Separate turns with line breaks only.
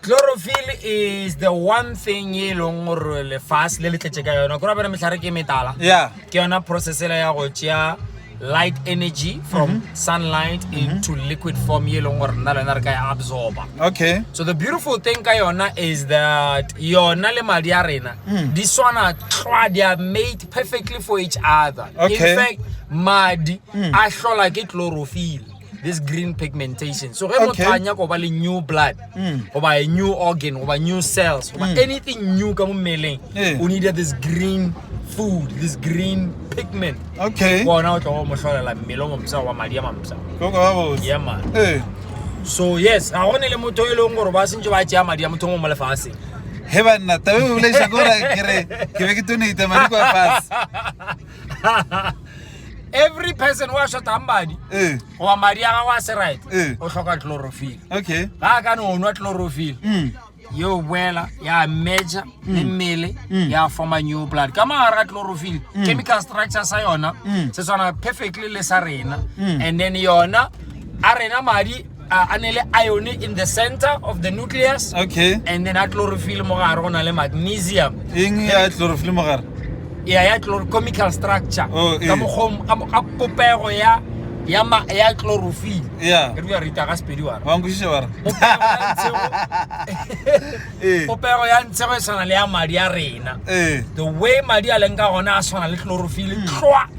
Chlorophyll is the one thing ye e leng gore lefase le le tletše ka yona kore bana mehlare ke metala yeah. ke yona
processela
ya go tšea light energy from mm -hmm. sunlight mm -hmm. into liquid form ye e leng gore nna le wena re ka e absorba okay so the
beautiful thing
ka yona is that yona le madi a rena mm. di swana tlwa they are made perfectly for each other okay. in fact
madi
mm. a hlola ke chlorophyll this green pigmentation so ge motho a nyaka go ba le new blood hmm. goba a new organ goba new cells goba hmm. anything new ka mo mmeleng eh. o needa this green food this green pigment okay bona o
tla go mo hlolela
mmele o momsa wa madi a mamsa yeah
man eh.
so yes ga gone le motho e leng gore ba sentse ba tšea madi a motho mo mo lefatshe he banna
tabe bolaiša kore ke be ke tonate madi kwa fase
every person wa shotang madi eh. goba madi a gago a se right eh. o tlhoka chlorophyll okay ga a ka
ne o nwa
chlorophyll mm. yeo boela ya meja mm. le mmele mm. ya forma new blood ka magare ga chlorophyll chemical structure sa yona se tshwana perfectly le sa rena and then yona a rena madi A ne le ione in the center of the nucleus. Okay. And then a
chlorophyll
mo gare go na le magnesium. Eng ya chlorophyll
mo gare? Ya ya
chloracomical structure. Oh, eh. Ka mokgom ka ka popego ya ya ma ya chlorophyll. Yeah. Re bua
rita ga sepedi wa.
Wa nkušisha wa re. Eh. Popego ya ntshego e tshwana le ya madi a rena. Eh. The way madi a leng ka gona a tshwana le chlorophyll. Tlwa. Mm.